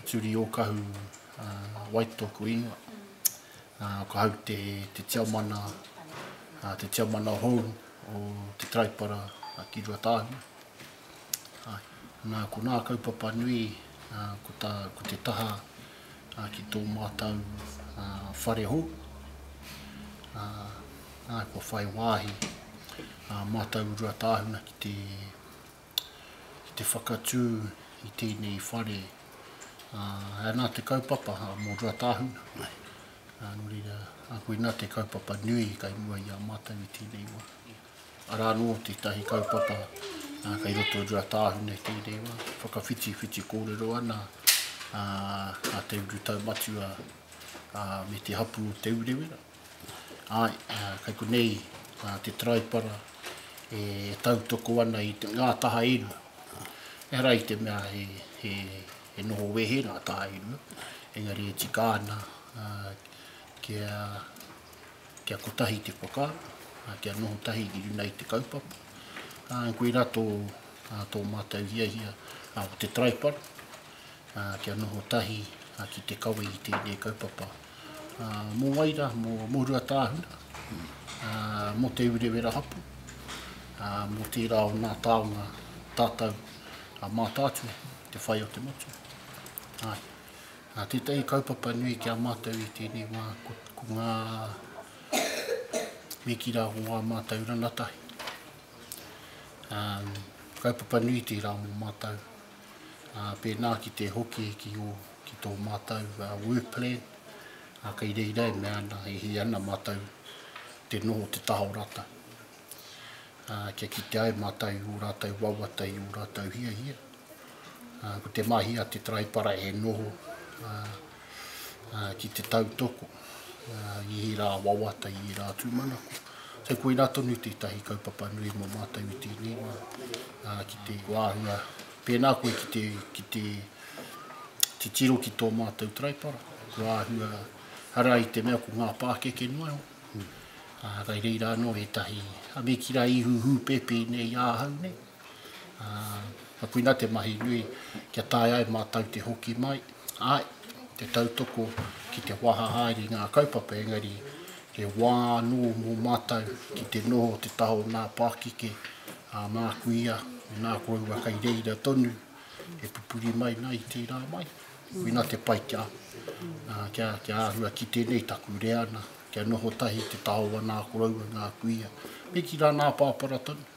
Turi Okahu, wai toku ingoa. Ko au te tiamana, te tiamana hou o te Taraipara ki Ruatāhuna. Nā, ko nā kaupapa nui, ko tā, ko te taha ki tō mātau whare hou. Nā, kua whai wāhi mātau Ruatāhuna ki te, ki te whakatū i tēnei whare, ā, anā te kaupapa a Mo Ruatāhuna, ā, nō reira, ā, koinā te kaupapa nui kai mua i a mātou i tēnei wā. Arā anō tētahi kaupapa, ā, kai roto i Ruatāhuna i tēnei wā, whakawhitiwhiti kōrero ana, ā, a te urutau matua, ā, me te hapū o Te Urewera. Āe, kei konei te taraipara e tautoko ana i ngā taha e rua. Ehara i te mea he noho wehe ngā taha e rua, engari e tika ana kia kotahi te whakaaro, kia noho tahi ki runga i te kaupapa. Koirā tō mātou hiahia ko te taraipara, kia noho tahi ki te kawe i tēnei kaupapa. mō wai rā, mō Ruatāhuna, mō Te Urewera Hapu, mō tērā o nā tāonga tātau a Mātaatua, te whai o te motu. Tētahi kaupapa nui ki a mātau i tēnei wā, ko ngā me ki rā ko ngā mātau ranatahi. Kaupapa nui tērā mō mātau. pēnā ki te hoki ki ō, ki tō mātou work plan, ā, kei reira e mea ana, e hē ana mātou te noho o te taha o rātou. Ā, kia kitea e mātou i ō rātou wawata, i ō rātou hiahia, ā, ko te mahi a te Taraipara e noho, ā, ki te tautoko i ērā wawata, i ērā tūmanako. So, koina tonu tētahi kaupapa nui mō mātou i tēnei wā, ki te wāhua, pēnā koe ki te, ki te titiro ki tō mātou taraipara, kua āhua, hara i te mea ko ngā pākeke noa iho, mm. uh, kai reira anō ētahi, a me ki rā ihu hūpēpē nei āhau nei, Ka puina te mahi nui kia taea ai mātou te hoki mai, āe, te tautoko ki te waha haere i ngā kaupapa engari he wā anō mō mātou ki te noho o te taha o nā pākeke, ā, māku ia, mēnā kōua kei reira tonu, e pupuri mai nā i tērā mai. Puina te pai kia, kia, kia āhua ki tēnei taku reana, kia noho tahi te taha o anā koroua, nā kuia, me ki rā nā pāpara tonu.